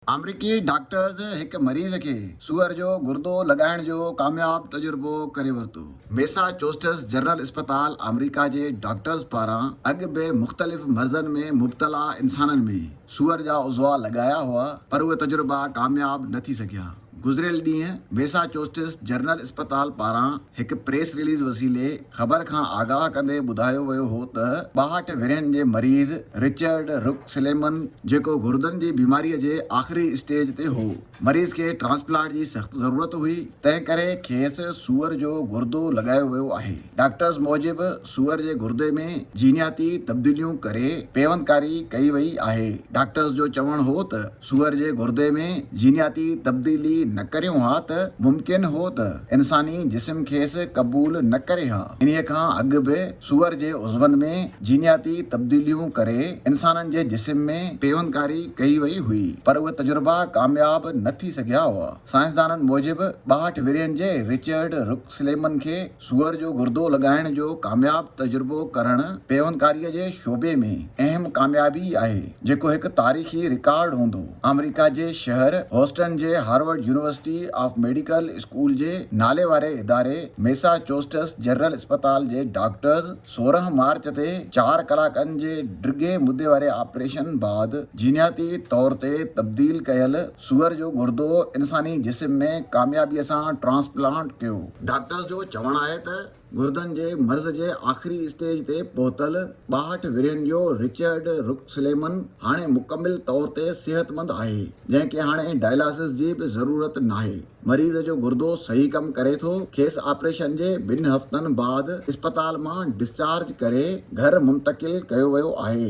آمريڪي ڊاڪٽرز هڪ مريض کي سوئر جو گردو لڳائڻ جو ڪامياب تجربو ڪري ورتو. ميساچوسٽس جنرل اسپتال آمريڪا جي ڊاڪٽرز پاران اڳ به مختلف مرضن ۾ مبتلا انسانن ۾ سوئر جا عضوا لڳايا هئا پر اهي تجربا ڪامياب نه ٿي سگهيا. گذريل ڏينهن ميساچوسٽس جنرل اسپتال پاران هڪ پريس رليز وسيلي خبر کان آگاهه ڪندي ٻڌايو ويو هو ته ٻاهٺ ورهين جي مريض رچرڊ رڪ سليمن جيڪو گردن جي بيماري جي آخري اسٽيج تي هو مريض کي ٽرانسپلانٽ جي سخت ضرورت هئي تنهن ڪري کيس سوئر جو گردو لڳايو ويو آهي ڊاڪٽرز موجب سوئر جي گردي ۾ جينياتي تبديليون ڪري پيوندڪاري ڪئي وئي آهي ڊاڪٽرز جو چوڻ هو ته سوئر جي گردي ۾ جينياتي تبديلي نه ڪريون ها ته ممڪن هو ته انساني جسم کيس قبول نه ڪري ها. انهيء کان اڳ به سوئر جي عضون ۾ جينياتي تبديليون ڪري انسانن جي جسم ۾ پيوندگاري ڪئي وئي هئي، پر اهي تجربا ڪامياب نه ٿي سگهيا هئا. سائنسدانن موجب ٻاهٺ ورهين جي رچرڊ رڪ سليمن کي سوئر جو گردو لڳائڻ جو ڪامياب تجربو ڪرڻ پيوندڪاري جي شعبي ۾ اهم ڪاميابي آهي، جيڪو هڪ تاريخي رڪارڊ هوندو. آمريڪا جي شهر هوسٽن جي Harvard University of Medical School جي ناليواري اداري ميساچوسٽس جنرل اسپتال جي ڊاڪٽرز، سورهن مارچ تي چار ڪلاڪن جي ڊگهي مدي واري آپريشن بعد جينياتي طور تي تبديل ڪيل سوئر جو گردو انساني جسم ۾ ڪاميابي سان ٽرانسپلانٽ ٿيو. ڊاڪٽرز جو چوڻ آهي ته گردن جي مرض جي آخري اسٽيج تي پهتل ٻاهٺ ورهين جو رچرڊ رڪسليمن هاڻي مڪمل طور تي صحتمند آهي، جنهن کي هاڻي ڊائلاسز جي به ضرورت ناهي. مريض جو گردو صحيح ڪم ڪري ٿو، کيس آپريشن جي ٻن هفتن بعد اسپتال مان ڊسچارج ڪري گهر منتقل ڪيو ويو آهي.